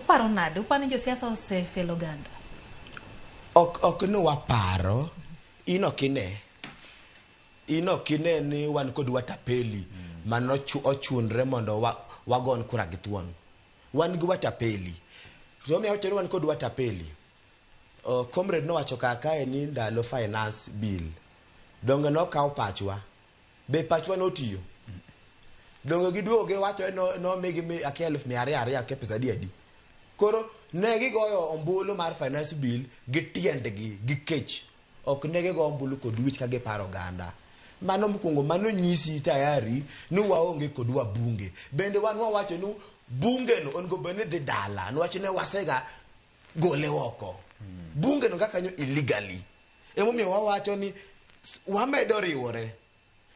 Uparo nade? Uparo ni josiasa osefelo oganda? Ok ok ni waparo, in ok ine. In ok ine ni wan kod watapeli ma nochu- ochunre mondo wa- wagon kura gi thuon. Wan gi watapeli. To omiyo awacho ni wan kod watapeli. Oh, comrade nowacho kaka kae ni ndalo finance bill. Donge nokaw pachwa? be pachwa notiyo donge giduogo giwacho no nomigi mi akia elfu mia ariyo ariyo akia pesa adi adi koro ne gigoyo ombulu mar finance bill gi tiendgi gi kech ok ne gigo ombulu kod wich ka giparo oganda mano mokwongo mano nyisi tayari ni waonge kod wabunge bende wan wawacho ni bungeno onego bed ni dhi dala niwach ne wasega gole oko bunge no kakanyo illegally emomiyo wawacho ni s- wamedo riwore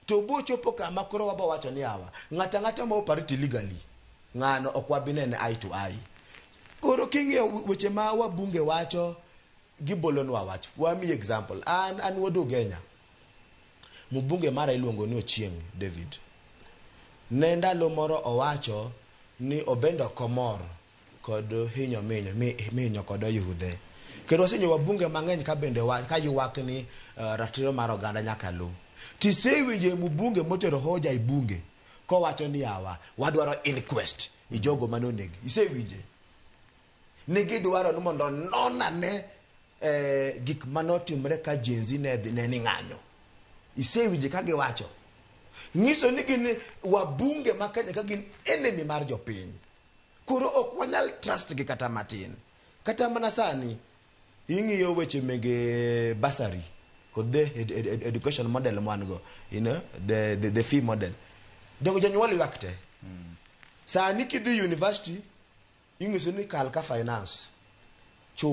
to bochopo kama koro wabo wacho ni awa ng'ata ng'ata ma opariti illegally ng'ano ok wabinene eye to eye koro king'iyo we- weche ma wabunge wacho gibolonwa wach wami example an an wuod ugenya mubunge mara iluongo ni ochieng david ne ndalo moro owacho ni obendo komor kod hinyo minyo mi minyo kod oyudhe kendo wasenyo wabunge mang'eny ka bende wa, ka ywak ni uh, ratiro mar oganda nyaka lu tisewinjo e mbunge motero hoja i bunge kowacho ni awa wadwaro inquest i jogo mane onegi isewinje ni gidwaro ni mondo nonane eh, gik mane otimre ka jenzi ne, ne ni ng'anyo isewinje ka giwacho nyiso ni gin wabunge ma Kenya ka gin enemy mar jopiny Koro ok wanyal trust gi kata matin. Kata mana sani ing'iyo weche mege basari kod the ed, ed, ed, education model mwan go, you know, the, the, the fee model. Jogo jonyuol ywak te. Mm. Sani kidhi university ing'iso ni kal ka finance. Chul.